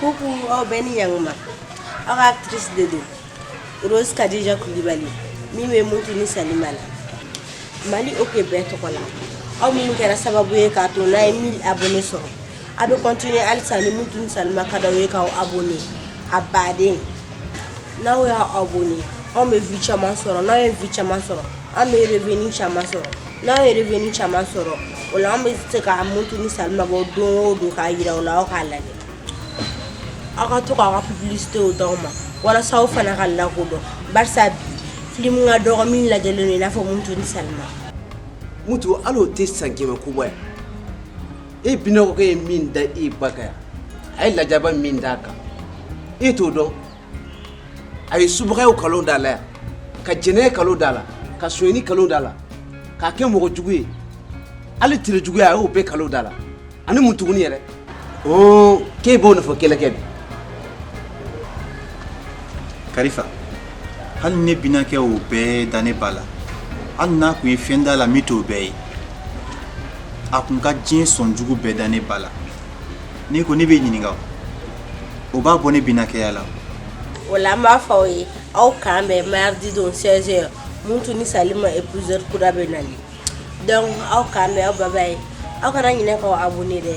Coucou, aw bɛɛ ni ɲanguma. Aw ka actrice de don. Rose Kadija Kulibali min bɛ Mutu ni Salima la. Mali oke bɛɛ tɔgɔ la. Aw minnu kɛra sababu ye k'a to an ye 1000 abonnés sɔrɔ. A bɛ continuer halisa ni Mutu ni Salima ka d'aw ye k'aw abonner a baden. N'aw y'aw abonner anw bɛ vue caman sɔrɔ, n'anw ye vue caman sɔrɔ an bɛ revenu caman sɔrɔ. n'anw ye revenu caman sɔrɔ o la an bɛ se ka mutu ni salima bɔ don o don k'a yira aw la aw k'a lajɛ aw ka to k'aw ka publicitew d'anw ma walasa aw fana ka lakodɔn barisa bi filimu ka dɔgɔ min lajɛlen don i n'a fɔ mutu ni salima mutu hali o tɛ san kɛmɛ ko bɔ yan e binɔgɔkɛ ye min da e ba kan yan a ye lajaba min d'a kan e t'o dɔn a ye subagaya kalon d'a la ka jɛnɛya kalon d'a la ka sonyɛni kalon d'a la k'a kɛ mɔgɔ jugu ye hali tere juguya a y'o bɛɛ kalon d'a la ani mun tugun yɛrɛ k'e b'o nɔfɛ kɛlɛ kɛ bi kalifa hali ne binaakɛ o bɛɛ da ne ba la hali n'a tun ye fɛn d'a la min t'o bɛɛ ye a tun ka diɲɛ sɔn jugu bɛɛ da ne ba la n'i ko ne bɛ ɲininka o b'a bɔ ne binaakɛya la o la an b'a fɔ aw ye aw k'an bɛn maridi don 16 heures mutu ni salima épisode kura bɛ nali donc aw k'an bɛn aw bye bye aw kana ɲinɛ k'aw abonner dɛ